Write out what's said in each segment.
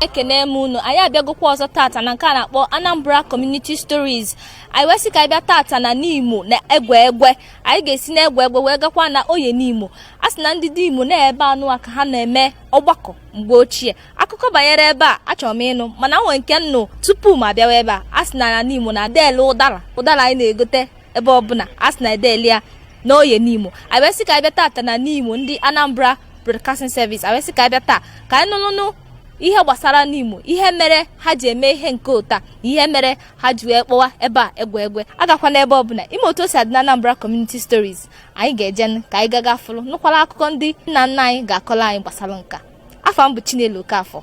ekene m unu anyị abịagokwa ọzọ tata na nke a na-akpọ Anambra Community Stories anyị wee sị ka anyị bịa tata na Nimo na Egwegwe anyị ga-esi na Egwegwe wee gakwa na Oye Nimo a sị na ndị Nimo na ebe anụ a ka ha na-eme ọgbakọ mgbe ochie akụkọ banyere ebe a achọrọ m ịnụ mana nwee nke m nụ tupu m abịawa ebe a a sị na na Nimo na adị ele ụdara ụdara anyị na-egote ebe ọbụla a sị na adị ele ya na Oye Nimo anyị wee sị ka anyị bịa tata na Nimo ndị Anambra broadcasting service awee sị ka anyị bịa taa ka anyị nụnụnụ ihe gbasara nimo ihe mere ha ji eme ihe nke ụta ihe mere ha ji wee kpọwa ebe a egwegwe agakwana ebe ọbụla ị ma otu o si adị na anambra community stories anyị ga-eje nụ ka anyị gaga fụrụ nụkwara akụkọ ndị nna nna anyị ga-akọrọ anyị gbasara nke a afa m bụ chinelo okafọ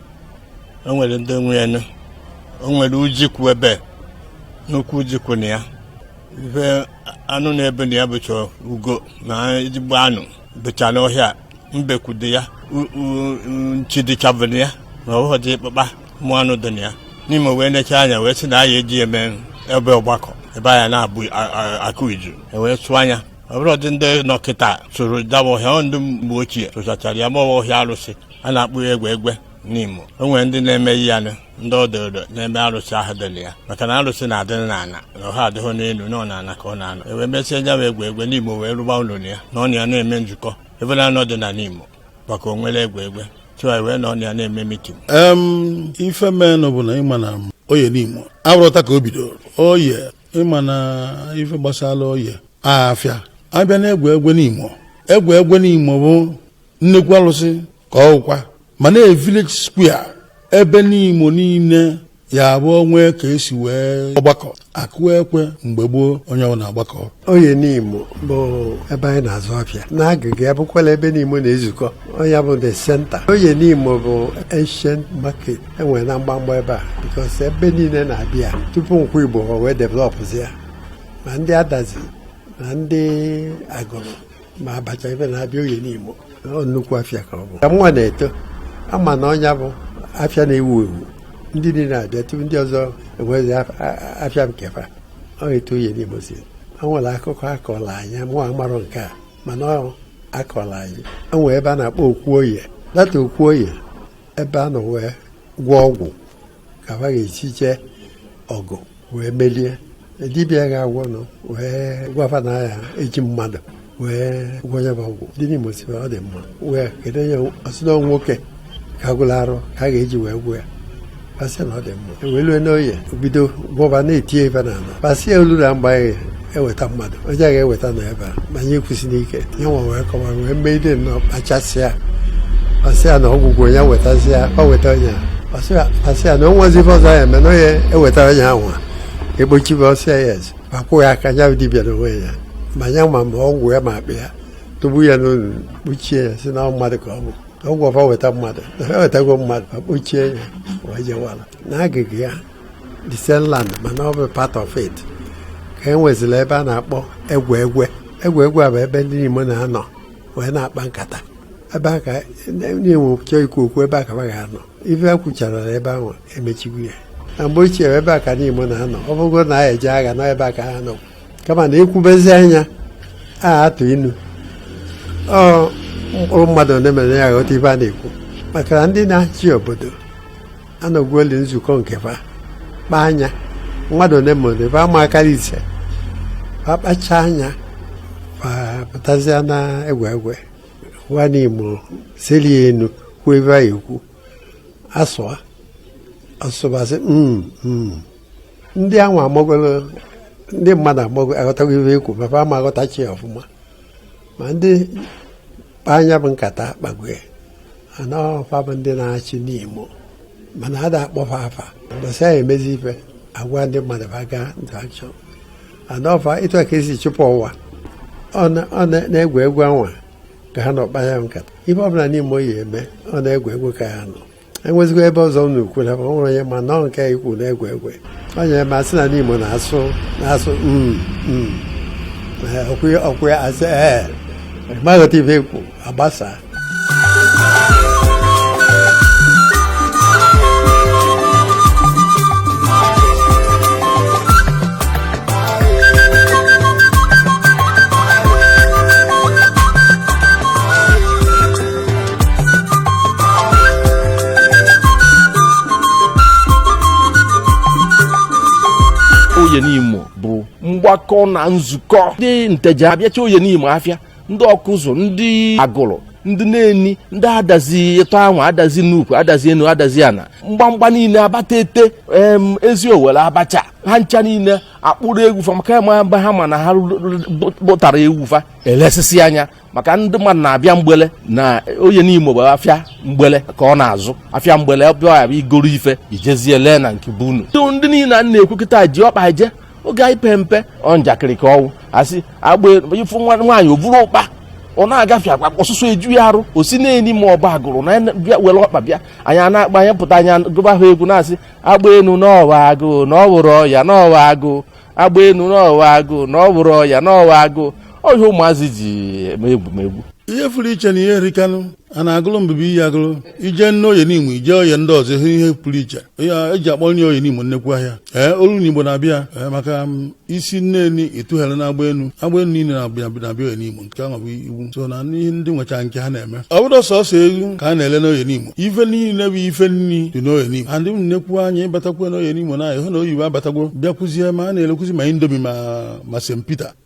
o nwere ndị nwe ya nụ. o nwere ọjị kwụ ebe nnukwu ọjị kwụ na ya ife anụ na-ebe na ya bụcha ugo na ezigbo anụ bụcha n'ọhịa mbekwu dị ya u- u- u- nchi dịchabu na ya na ọhụhụ dị ịkpụkpa ụmụ anụ dị na ya nimo wee necha anya wee sị na a ya-eji eme ebe ọgbakọ ebe anyị na-abụ a- a- akụ iju e wee sụọ ya ọ bụrọdị ndị nọ kịta sụrụ nya bụ ọhịa ọ ndị mgbe ochie sụchachara ya ma ọ bụ ọhịa arụsị a na-akpọ ya egwegwe nimo o nwere ndị na-eme ihe ya ndị odo odo na-eme arụsị ahụ dị na ya maka na arụsị na-adị n'ala na ọha adịghị n'elu na ọ n'ana ka ọ na-anọ e wee mesịa ya egwegwe nimo wee rụba ụlọ ya nọ na ya na-eme nzukọ ebe na anọ dị na nimo maka o nwere egwegwe chụwa e wee nọ na ya na-eme mitin ife menụ bụ na ị ma na oye nimo abụrọ taa ka o bidoro oye ị ma na ife gbasara oye afịa abịa na egwegwe nimo egwegwe nimo bụ nnekwu alụsị ka ọ bụkwa mana village square ebe nimo niile ya-abụ e nwee ka e si nwee ọgbakọ akụ ekwe mgbe gboo onye ọbụna agbakọ oye nimo bụ ebe anyị na-azụ afịa n'agịga ya bụkwala ebe nimo na-ezukọ ọ nya bụ the center oye nimo bụ ancient market e nwere na mgbamgba ebe a because ebe niile na-abịa tupu nkwọ igbo wee developụzia ma ndị adazi ma ndị agụlụ ma abacha ebe na-abịa Oye Nimo ọ nnukwu afịa ka ọ bụ ka nwa na-eto ama na ọ nya bụ afịa na-ewu ewu ndị niile na-abịa tupu ndị ọzọ enwezi afịa nke fa ọ etu Oye Nimo si o nwere akụkọ a kọlụ anyị mụ amarọ nke a mana ọ a kọlụ anyị o nwere ebe a na-akpọ okwu oye that okwu oye ebe a nọ wee gwọọ ọgwụ ka ha ga-esi jee ọgụ wee melie dibịa ga-agwọ nụ wee gwa fa na a ya-eji mmadụ wee gwọ nya bụ ọgwụ ndị Nimo sị ọ dị mma wee kedu onye ọ sị na nwoke ka gwụrụ arụ ka a ga-eji wee gwọ ya fa sị na ọ dị mma e wee lue n'oye bido gwọba na-etinyebe na ala fa sị ya o luru mgbe eweta mmadụ onye a ga-eweta na ebe a ma anyị ekwusịla ike ya nwa wee kọwa wee mee ide nnọọ kpachasịa ọsị ya na ọgwụgwụ onye wetazi ya ọ weta onye a ọsị ya- ọsị ya na o nwezi ife ọzọ ya eme na onye eweta onye ahụ a egbochibe ọsị ya yes ma kwụ ya aka ya dibịa na onwe ya ma ya ma ma ọgwụ ya ma akpa ya tụgbu ya n'ọnụ kpuchie ya si na ọ mmadụ ka ọ bụ ọgwụ ọ fa weta mmadụ na ha wetago mmadụ ma kpuchie ya wee jewala na agịga ya the same land mana ọ bụ part of it ka e nwezila ebe a na-akpọ egwe egwe egwe egwe a bụ ebe ndị Nimo na-anọ wee na-akpa nkata ebe a ka na-enwe chọọ ikwu okwu ebe a ka ha ga-anọ ife a kwuchara na ebe ahụ emechigo ya na mgbe ochie ebe a ka ndị Nimo na-anọ ọ bụgo na a ya-eje agha nọ ebe a ka ha nọ kama na ekwubezia ya a atụ inu ọ mkpụrụ mmadụ ole ma ole ya-aghọta ife a na-ekwu maka na ndị na-achị obodo anọgwuoli nzukọ nke fa kpaa nya mmadụ ole ma ole fa ama akarị ise fa kpachaa nya fa pụtazịa na egwe egwe gwa Nimo seli enu kwuo ife a ya-ekwu asụa asụ ba sị "Mm, mm." ndị ahụ amagolo ndị mmadụ amago aghọtago ife ekwu ma fa ama aghọtacha ya ọfụma ma ndị kpa nya bụ nkata akpago ya a na ọ fa bụ ndị na-achị Nimo mana a da-akpọ fa afa mbọsị a ya-emezi ife agwa ndị mmadụ ba gaa into action a na ọ fa ịtụ ka esi chụpụ Ọwa ọ na egwe egwe anwa ka ha nọ kpaa ya nkata ife ọbụla Nimo ya-eme ọ na egwe egwe ka a ya-anọ enwezikwa ebe ọzọ m na-ekwu na ọ nwere onye ma nọọ nke ikwu na egwe egwe onye ma sị na Nimo na-asụ na-asụ mm, mm. ọkwụ ya asị ee ma aghọta ife ekwu agbasaa Oye Nimo bụ mgbakọ na nzukọ ndị Nteje abịacha Oye Nimo afịa ndị Ọkụzụ ndị Agụlụ ndị Neni ndị Adazi etọ anwa Adazi Nnukwu Adazi Enu Adazi Ana mgbamgba niile Abatete em, Eziowelle Abacha ha ncha niile akpụrụ ewu fa maka ma mgbe ha ma na ha kpụtara ewu fa elesisia nya maka ndị mmadụ na-abịa mgbele na Oye Nimo bụ afịa mgbele ka ọ na-azụ afịa mgbele bịa ya bụ i goro ife i jezie lee na nke be unu ndị niile a na-ekwu kịta ji ọkpa je oge anyị pee mpe ọ njakịrị ka ọ wụ asị agba ị fụ nwa nwaanyị o buru ụkpa ọ na-agafe akpa ọsụsọ eju ya arụ o si Neni ma ọ bụ Agulu na ene- bịa were ọkpa bịa anyị a na-akpa anyị pụta anyị gụba ha egwu na-asị agba enu n'ọwa agụụ na ọ wụrụ ọya n'ọwa agụụ agba enu n'ọwa agụụ na ọ wụrụ ọya n'ọwa agụụ ọ ihe ụmụazị ji eme egwumegwu ihe pụrụ iche na ihe erikanụ a na-agụlụ mbụbụ iyi agụlụ ije nne oye Nimo ije oye ndị ọzọ ihe ihe pụrụ iche ya eji akpọ nri oye Nimo nnekwu ahịa ee olu na igbo na-abịa ee, maka m, i si Neni ịtụghere na agba enu agba enu niile na-abịa na-abịa oye Nimo nke ahụ bụ iwu so na n'ihe ndị nwecha nke ha na-eme ọ bụrọ sọsọ ewu ka a na-ele n'oye Nimo ife niile bụ ife nri dị n'oye Nimo andị m nnekwu anya ịbatakwu n'oye Nimo na ahụ na oyibo abatagwo bịakwuzie ma a na-elekwuzi ma indomie ma ma spaghetti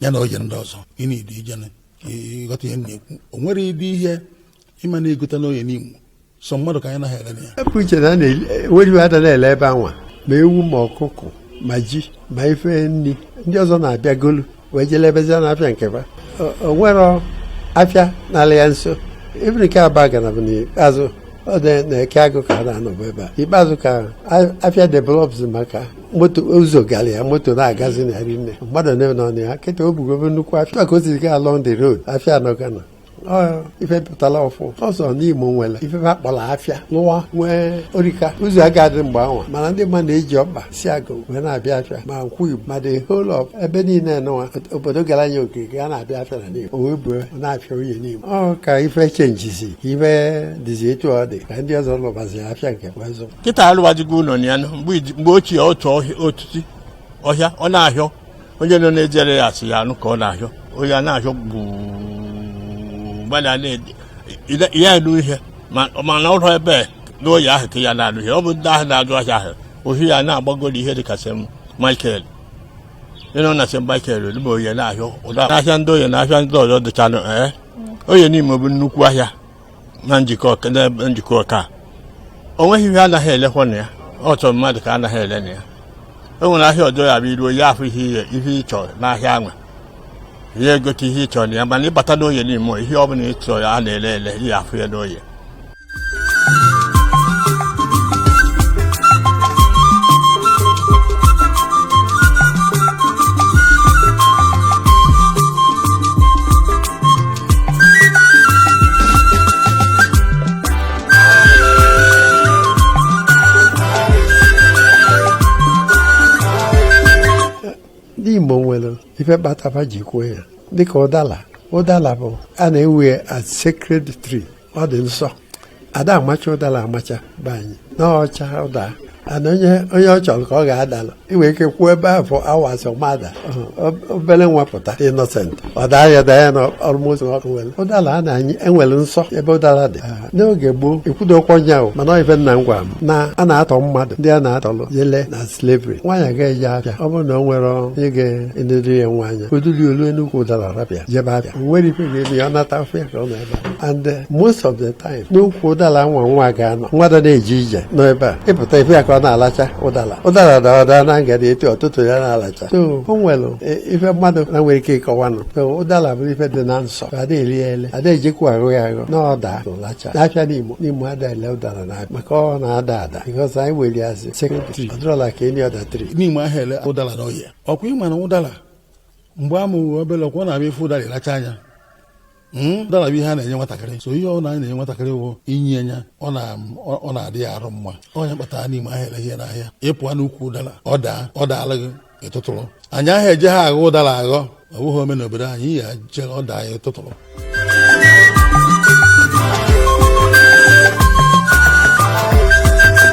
ya na oye ndị ọzọ ị na-edu ije na ka ịghọta ihe m na-ekwu o nwere ụdị ihe ị ma na-egota n'oye Nimo sọ mmadụ ka anyị naghị ele na ya ebe uche na enweghị ada na-ele ebe anwa ma ewu ma ọkụkọ ma ji ma ife nri ndị ọzọ na-abịa golu wee je lebezia n'afịa nke ba O- o nwere afịa n'ala ya nso ebe nke Abagana bụ n'ikpeazụ ọ dị n'Eke Agụ ka a na-anọbụ ebe a ikpeazụ ka a- afịa develops maka moto ụzọ gara ya moto na-agazi na rinne mmadụ na-ebe na ọnụ ya kịta o bugobe nnukwu afịa ka o siri gaa along the road afịa anọgana ife pụtara ọfụ ọzọ Nimo nwere ife ha kpọrọ afịa lụwa nwee orika ụzọ agadị mgbe anwa mana ndị mmadụ na-eji ọkpa si agụ wee na-abịa afịa ma nkwu igbo ma the whole ebe niile nọwa obodo gara anya okirikiri a na-abịa afịa na Nimo o wee buo n'afịa oye Nimo ọ ka ife chenjizi ife dịzi etu ọ dị ka ndị ọzọ lụbazi afịa nke wee zụ kịta alụwajigo ụlọ na ya mgbe ochie otu etiti ọhịa ọ n'ahịa oye nọ na-ejere ya asị ya anụ ka ọ n'ahịa oye a na-ahịọ gbada ya elu ihe mana ụlọ ebe n'oye ahụ ka ya na-alụ ihe ọ bụ ndị ahụ na-azụ ahịa ahụ ahịa na-agbagoro ihe dịka St michael ị nọ na St michael olugbo oye na-ahịa ụda ahịa ndị oye na ahịa ndị ọzọ dịchanụ ee eh? oye Nimo bụ nnukwu ahịa na Njikoka o nweghị ihe anaghị elekwa na ya ọ sọ mmadụ ka anaghị ele na ya e nwere ahịa ọjọọ ya bụ iruo ya afọ ihe ihe ị chọrọ n'ahịa anwa ị ya-egote ihe ị chọrọ na ya mana ịbata n'oye Nimo ihe ọ bụla ị chọrọ ya a na-ele ele ị ya-afụ ya n'oye ndị Igbo nwere ife kpatara ji kwuo ya dịka ụdala ụdala ahụ a na-ewe ya as sacred tree ọ dị nsọ a da amacha ụdala amacha be anyị na ọ chaa ọ daana onye onye ọ chọrọ ka ọ ga-adalụ ị nwere ike kwuo ebe afụ hours ọ ma ada obere nwa pụta innocent ọ daa ya daa ya na ọlụmụzọ ọkụ nwere ụdala a na-anyị enwere nsọ ebe ụdala dị Ah, n'oge gboo ekwudokwa m nya o mana ife nna m gwara m na a na-atọ mmadụ ndị a na-atọlụ jele na slavery nwaanyị ga-eje afịa ọ bụrụ na o nwerọ onye ga-enedori ya nwa anya o duli o lue n'ukwu ụdala rapụ ya jebe afịa o nwerọ ife ga-eme ya ọ nata afịa ka ọ nọ and uh, most of the time n'ukwu ụdala nwa nwa ga-anọ nwa da na-eje ije nọ ebe a ị pụta ị fụ ya ka ọ na-alacha ụdala ụdala daa ọ daa na ngada etu ọ tụtụ ya na-alacha so o nwere e, ife mmadụ na-enwerọ ike ịkọwanụ so ụdala bụ ife dị na nsọ a da ele ya ele a da ejekwa aghọ ya aghọ na ọ daa a lachaa n'afịa Nimo Nimo a da ele ụdala na maka ọ na-ada ada because anyị were ya asị sacred tree ọ dịrọla ka any other tree Nimo aha ele ụdala n'ahịa ọ kwa ị ma na ụdala mgbe a mụrụ obere ọ kwa ọ na-abụ ị fụ ụdala ị lachaa nya Hmm? ụdala bụ ihe a na-enye nwatakịrị so ihe ọ na anyị na-enye nwatakịrị wụ i nye ya ọ na-adị ya arụ mma ọ nya kpatara Nimo aha ere ya n'ahịa ị pụọ n'ukwu ụdala ọ daa ọ daala gị ị tụtụrụ anyị aha eje ha aghọ ụdala aghọ ọ bụghị ome n'obodo anyị ya je ọ daa ya ị tụtụrụ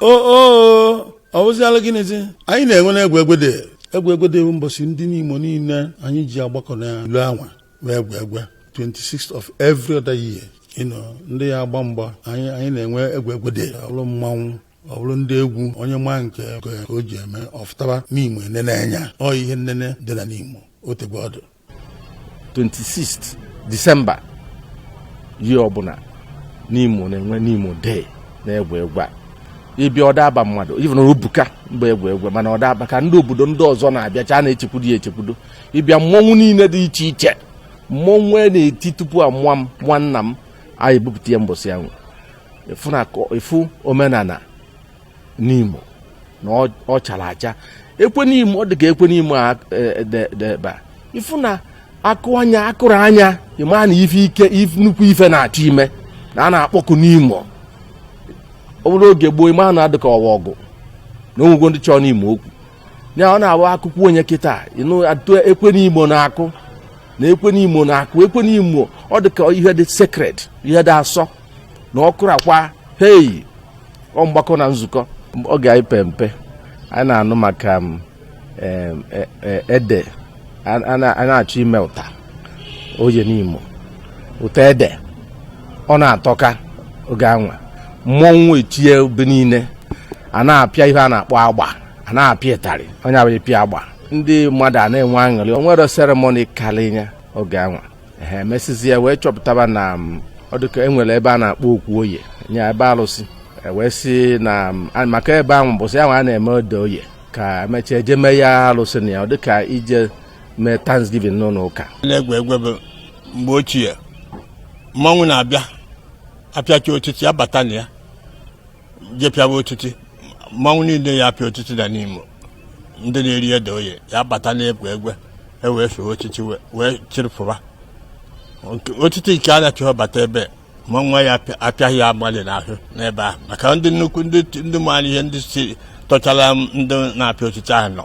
o o ọ wụziala gịnịzi anyị na-enwe na Egwegwe Day Egwegwe Day bụ mbọsị ndị Nimo niile anyị ji agbakọ na ilo anwa wụ Egwegwe 26th of every other year you know, ndị ya-agba mgba anyị anyị na-enwe Egwegwe Day ọ bụrụ mmanwụ ọ bụrụ ndị egwu onye maa nke ka o ji eme ọ fụtaba Nimo e nene anya ọ ihe nnene dị na Nimo o tegwo ọ dụ 26 December year ọbụla Nimo na-enwe Nimo Day na Egwegwe a ị bịa ọ da aba mmadụ even o buka mgbe Egwegwe mana ọ da aba ka ndị obodo ndị ọzọ na-abịacha na-echekwudo ya echekwudo ị bịa mmọnwụ niile dị iche iche mmọnwụ a na-eti tupu a mụọ m mụọ nna m anyị ebupụta ya mbọsị ahụ ị fụ omenala Nimo na ọ- ọ chara acha ekwe Nimo ọ dị ka ekwe Nimo a e, de- de ebe a ị fụ na a kụọ nya a kụrụ nya ị ma na ife ike if- nnukwu ife na-achọ ime na a na-akpọkụ Nimo ọ bụrụ oge gboo ị ma na ọ dị ka ọ wụ ọgụ na o nwego ndị chọọ Nimo okwu ya ọ na-abụ akụkọ onye kịta ị nụ atụ ekwe Nimo na-akụ na ekwe Nimo na-akụ ekwe Nimo ọ dị ka ihe dị sacred ihe dị asọ na ọ kụrụ akwa hei ọ mgbakọ na nzukọ oge anyị pe mpe anyị na-anụ maka um, e, e, ede a na-achọ ime ụta oye Nimo ụta ede ọ na-atọka oge anwa mmọnwụ etie n'ebe niile a na-apịa ihe a na-akpọ agba a na-apịa ịtarị onye abụghị pịa agba ndị mmadụ a na-enwe aṅụrị o nwere seremoni karịa oge anwa ha emesịzie wee chọpụtaba na ọ dịka e nwere ebe a na-akpọ okwu oye nye ebe alụsị e wee si na maka ebe ahụ mbọsị ahụ a na-eme ede oye ka emechaa eje mee ya alụsị na ya ọ dịka ije mee thanksgiving n'ụlọ ụka n'Egwegwe bụ mgbe ochie mmanwụ na-abịa apịacha otiti abata na ya je pịawa otiti mmanwụ niile ya apịa otiti na Nimo ndị na-eri ede oye ya bata n'Egwegwe e wee fee otiti wee chịrịpụba otiti nke a na-achọghị bata ebe mmanwụ ya apịaghị ya mmadụ n'ahụ n'ebe ahụ maka ndị nnukwu ndị maara ihe ndị si tọchara ndị na-apịa otiti ahụ nọ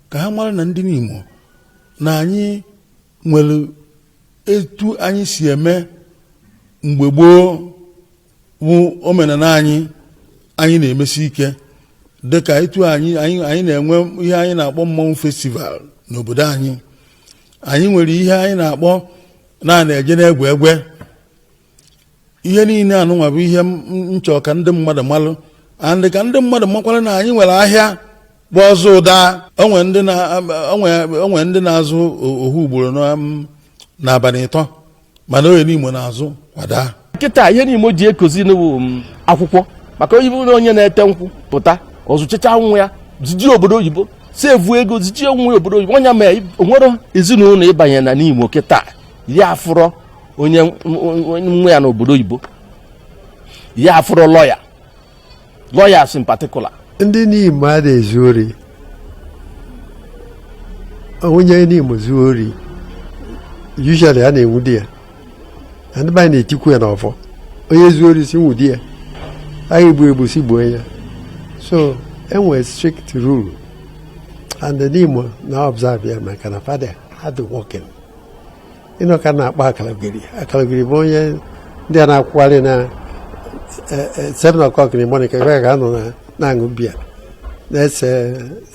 ka ha mara na ndị Nimo na anyị nwere etu anyị si eme mgbe gboo bụ omenala anyị anyị na-emesi ike dịka etu anyị anyị na-enwe ihe anyị na-akpọ mmọnwụ festival n'obodo anyị anyị nwere ihe anyị na-akpọ na a na-eje n'Egwegwe ihe niile anụnwa bụ ihe m chọ ka ndị mmadụ malụ and ka ndị mmadụ makwara na anyị nwere ahịa bụ ọzụ daa o nwe ndị na-azụ ohu ugboro n'abalị ịtọ mana Oye Nimo na-azụ kwa daa kịta ihe Nimo ji ekozinụ bụ akwụkwọ maka onye bụrụ onye na-ete nkwụ pụta ọzụchicha nwa ya ziji obodo oyibo si evu ego ziji nwa ya obodo oyibo onye mee o nwerọ ezinụlọ ị banye na Nimo kịta ya afụrọ onye nwa ya n'obodo oyibo ya afụrọ lọya lawyers in particular ndị Nimo ada ezu ori onye Nimo zuo ori usually a na-enwudi ya na ndị be anyị na-etikwu ya n'ọfọ onye zuo ori si nwudi ya a ga-egbu egbu si gbuo ya so e nwere strict rule and Nimo na-observe ya maka na fa dị hardworking ị nụ ka a na-akpọ akalogeri akalogeri bụ onye ndị a na-akwụgharị na e, e, seven o'clock in the morning ebe ka anọ na-aṅụ biya na-ese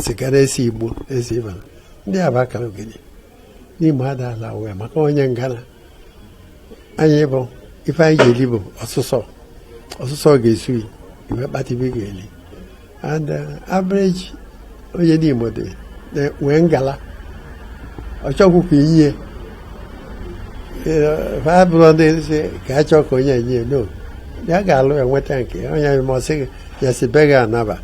siga na-ese igbo na-esi ibe ndị a bụ akalogeri Nimo ada ala wee maka onye ngana anyị bụ ife anyị ga-eli bụ ọsụsọ ọsụsọ ga-esu ị wee kpata ife ị ga-eli and uh, average onye n'Imo dị wee ngala ọ chọghị ka inye ha bụrụ ndị si ka a chọọ ka onye enye no ya ga-alụ enweta nke onye masị ya si be gị anaba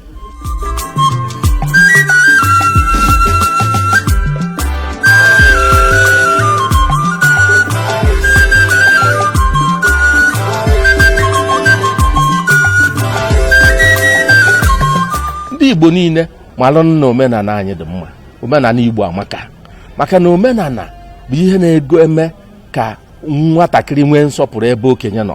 ndị igbo niile malụ na omenala anyị dị mma omenala igbo amaka maka na omenala bụ ihe na-ego eme ka nwatakịrị nwee nsọpụrụ ebe okenye nọ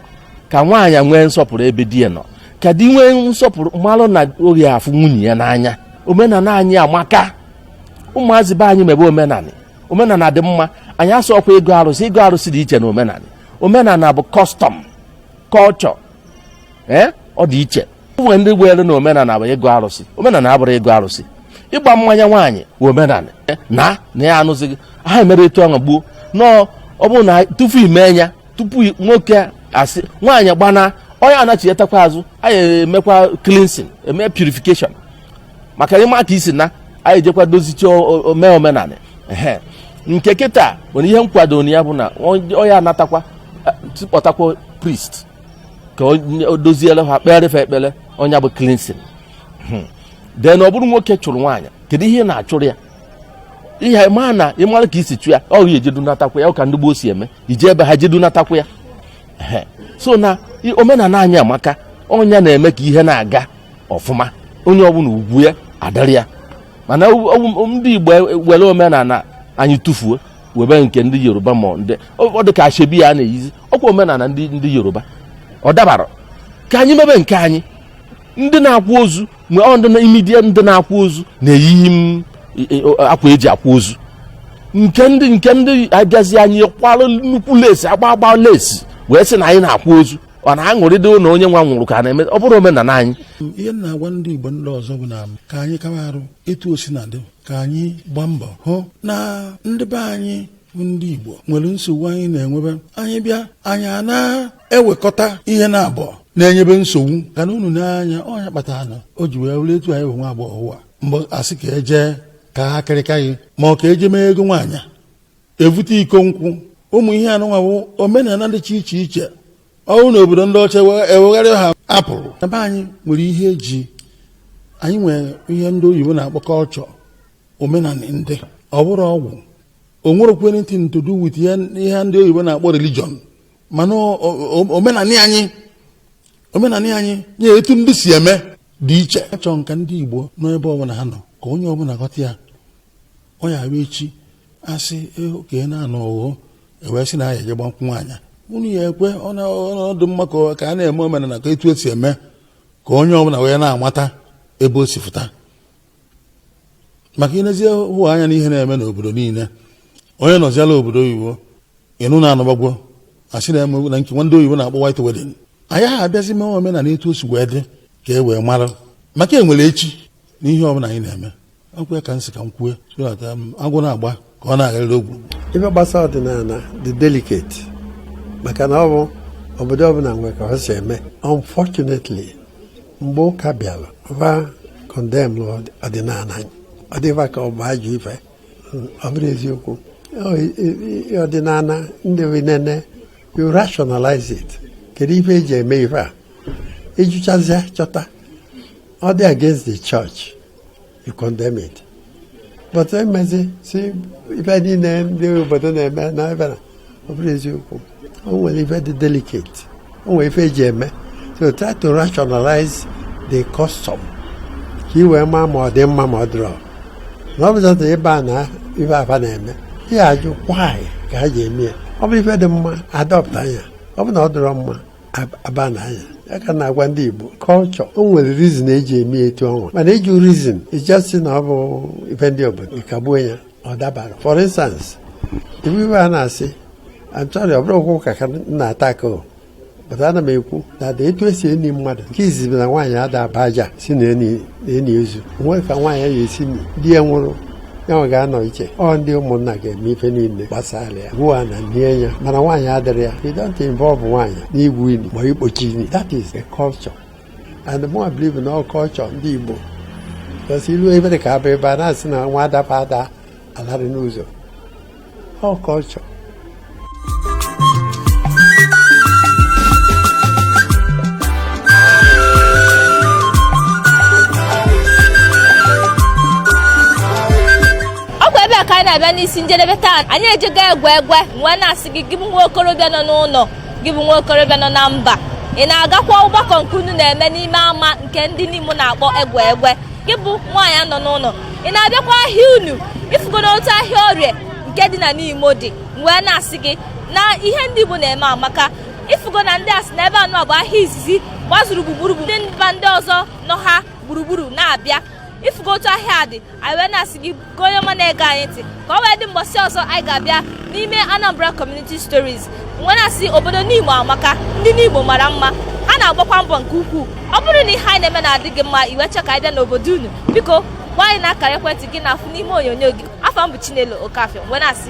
ka nwaanyị nwee nsọpụrụ ebe di ya nọ ka di nwee nsọpụrụ malụ na ọ ga-afụ nwunye ya n'anya omenala anyị amaka ụmụazị be anyị mebe omenala omenala dị mma anyị asọ ọkwa ịgọ arụsị ịgọ arụsị dị iche na omenala omenala bụ custom culture ee ọ dị iche nwere ndị kweere na omenala bụ ịgọ arụsị omenala abụrọ ịgọ arụsị ịgba mmanya nwaanyị bụ omenala na na ya anụzighị ha mere etu ahụ gbuo nọọ ọ bụrụ na tupu ime ya tupu nwoke asị nwaanyị gbana onye anachiyetakwa azụ anyị emekwa cleansing eme purification maka ịma ka i si na anyị jekwa dozicha eme omenala ehe nke kịta nwere ihe nkwado na ya bụ na onye anatakwa kpọtakwa priest ka o doziere ha kpere fa ekpere ọ nya bụ cleansing then ọ bụrụ nwoke chụrụ nwaanyị kedu ihe ị na-achụrụ ya ihe ma na ị mara ka i si chụ ya ọ ga-ejedunatakwa ya ọ ka ndị gboo si eme i je be ha jedunatakwa ya so na omenala anyị amaka ọ nya na-eme ka ihe na-aga ọfụma onye ọbụla ugwu ya adịrị ya mana ndị igbo ewere omenala anyị tụfuo webe nke ndị yoruba ma ndị ọ dị ka ashebi a na-eyizi ọkwa omenala ndị yoruba ọ dabara ka anyị mebe nke anyị ndị na-akwa ozu mgbe ọ ndị immediate ndị na-akwa ozu na-eyi akwa eji akwa ozu nke ndị nke ndị a bịazị anyị kwara nnukwu lace agba agba lace wee sị na anyị na-akwa ozu ọ na-aṅụrịdị na onye nwa nwụrụ ka a na-eme ọ bụrọ omenala anyị ihe m na-agwa ndị Igbo ndị ọzọ bụ na ka anyị kawa arụ etu o sina dị ka anyị gbaa mbọ hụ na ndị be anyị ndị Igbo nwere nsogbu anyị na-enwebe anyị bịa anyị a na-ewekọta ihe naabọ na-enyebe nsogbu ka na unu na-anya ọ nya kpatara na o ji wee were etu anyị bụ nwa agbọghọ ụwa mgbe asị ka eje ka ha kịrịka gị ma ọ ka eje mee ego nwaanyị evute iko nkwụ ụmụ ihe anụnwa bụ omenala dịcha iche iche ọnwụ na obodo ndị ọcha ewegharị ha apụrụ ebe anyị nwere ihe eji anyị nwere ihe ndị oyibo na-akpọ culture omenala ndị ọ bụrọ ọgwụ o nwerọkwa anything to do with ihe ihe ndị oyibo na-akpọ religion mana o- o- omenanị anyị omenanị anyị na etu ndị si eme dị iche achọrọ m ka ndị igbo nọ ebe ọbụla ha nọ ka onye ọbụla ghọta ya ọ ya abịa echi asị eh ka ị na-anọ ọghọ ewee sị na ya eje gba nkwụ nwaanyị unu ya ekwe ọ na- ọ dị mma ka ọ- ka a na-eme omenala ka etu esi eme ka onye ọbụla wee na-amata ebe o si fụta maka i nezie hụ anya n'ihe na-eme n'obodo niile onye nọziala obodo oyibo ị nụ na-anụbagwo asị na-eme na nke ndị oyibo na-akpọ white wedding anyị ha abịazi mee omenala etu o si wee dị ka e wee mara maka ewere eche na ihe ọbụla anyị na-eme ọkwa ya ka m si ka m kwue so that agwụ na-agba ka ọ na-agharịrị ogwu ife gbasara ọdịnala dị delicate maka na ọ bụ obodo ọbụla nwere ka ọ si eme unfortunately mgbe ụka bịara va condemn ọdịnala anyị ọ dịva ka ọ bụ ajọ ife ọ bụrọ eziokwu ọdịnala ndị nene you rationalize it kedu ife eji eme ife a ị jụchazịa chọta ọ dị against the church you condemn it. But I may say, see, if I didn't name the but then I may not ever. Oh, well, if I did delicate. Oh, if I jam. So try to rationalize the custom. He were mamma or them mamma draw. Not that the banner, if I have name. Yeah, you why? Can I jam? Ọ bụ ife dị mma adọpụta ya ọ bụ na ọ dịrọ mma a ban ya ya ka na-agwa ndị Igbo culture o nwere reason eji eme etu ọnwa mana iji reason ị ja-asị na ọ bụ ife ndị obodo ị kagbuo ya ọ dabarọ for instance ife ife a na-asị I'm sorry ọ bụrọ okwu ụka ka na-ata aka o pụta ana m ekwu na ada etu esi eni mmadụ nke izizi na nwaanyị ada aba aja si na eni na-eni ozu o nwe ka nwaanyị ya esi di ya nwụrụ ya nwe ga-anọ iche ọ ndị ụmụnna ga-eme ife niile gbasara ya gwuwa ana nie ya mana nwaanyị adịrọ ya you don't involve nwaanyị n'igwu ini ma ikpochi ini that is a culture and mụ nwa believe na ọ culture ndị Igbo because iluo ebe dị ka abụ ebe a na-asị na nwa adaba ada alarị n'ụzọ ọ culture ọ bụ ebe a ka anyị na-abịa n'isi njedebe taa anyị ejego egwe egwe wee na-asị gị gị bụ nwa okorobịa nọ n'ụlọ gị bụ nwa okorobịa nọ na mba ị na-agakwa ọgbakọ nke unu na-eme n'ime ama nke ndị Nimo na-akpọ egwe egwe gị bụ nwaanyị nọ n'ụlọ ị na-abịakwa ahịa unu ịfụgo n'otu ahịa orie nke dị na Nimo dị wee na-asị gị na ihe ndị Igbo na-eme amaka ịfụgo na ndị asị na ebe a nọ bụ ahịa izizi gbazuru gburugburu ndị mba ndị ọzọ nọ ha gburugburu na-abịa ịfụgo otu ahịa dị anyị wee na-asị gị ka onye ọma na-ege anyị ntị ka ọ wee dị mbọsị ọzọ anyị ga-abịa n'ime Anambra Community Stories wee na-asị obodo Nimo amaka ndị Nimo mara mma ha na-agbakwa mbọ nke ukwuu ọ bụrụ na ihe anyị na-eme na-adị gị mma ị wee chọọ ka anyị bịa n'obodo unu biko gwa anyị na akara ekwentị gị na-afụ n'ime onyonyo gị afa m bụ Chinelo Okafia wee na-asị